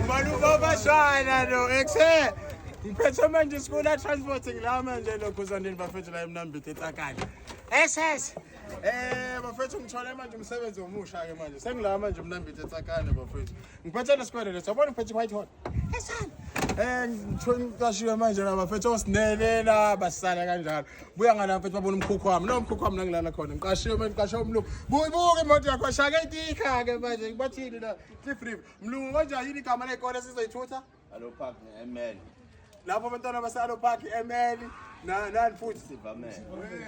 ubani ubabashana lo exe ngiphethe manje isikula transporting la manje lokhu zandini bafethu la emnambithe etakane ss Eh bafethu ngithole manje umsebenzi omusha ke manje. Sengila manje umnambithe tsakane bafethu. Ngiphethe lesikwele leso. Yabona ngiphethe white hot. Eh ngithona uqashiwe manje la bafethu osinelela basala kanjalo. Buya ngala bafethu babona umkhukhu wami. No umkhukhu wami nangilala khona. Ngiqashiwe manje ngiqashe umlungu. Buyibuke imoto yakho shaka itika ke manje ngibathini la. Cliff River. Mlungu konjani yini igama lekole sizoyithutha? Alo park ML. lapho abantwana basalo park emeli nani futhi sivamele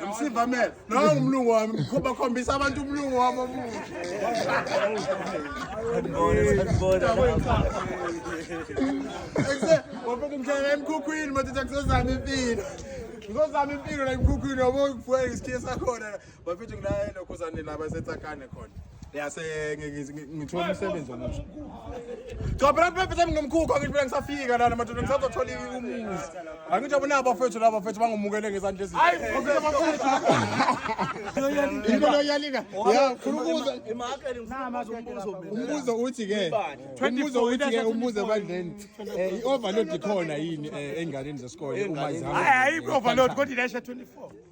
msivamele nawe umlungu wami ngikhomba khombisa abantu umlungu wami omuhle wabeka umhlala emkhukhwini madoda ngizozama impilo ngizozama impilo la emkhukhwini yabo ngifuna isikhiye sakhona bafethu ngilaye lokhuzane laba esetsakane khona yase ngithola umsebenzi omusha cha phela kubefethu ami ngomkhukhu angithi phela ngisafika lana madoda ngisazothola umuzi angithi abona abafethu laba bafethu bangumukele ngezandla eziyinto loyalika umbuzo uthi ke umbuzo uthi ke umbuzo ebandleni eh, i-overload ikhona yini eh, ey'nganeni zesikole uma zihamba hayi i-overload kodwa ilesha 24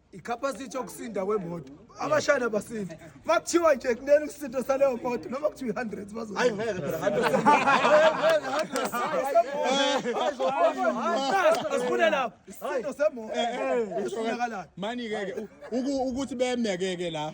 icapacity yokusinda kwemoto abashayeli abasindi uma kuthiwa nje kunele ukusinda saleyo moto noma kuthiwa i-hundred bazohayi ngeke phela asifune lapho isindo semoto usonakalayo mani-ke-ke ukuthi bemeke-ke la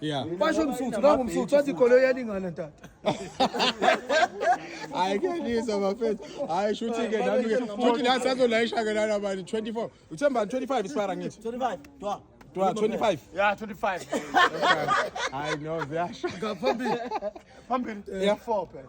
Yeah. Basho msuthu nangu msuthu wathi igolo yalingana ntata. Hayi kuyalisa bafethu. Hayi shuthi ke nami ke. Shuthi la sazolayisha ke lana bani 24. Uthemba 25 isipara ngithi. 25. Dwa. Dwa 25. Yeah 25. Hayi no ziyasha. Ngaphambili. Phambili. Yeah 4 phela.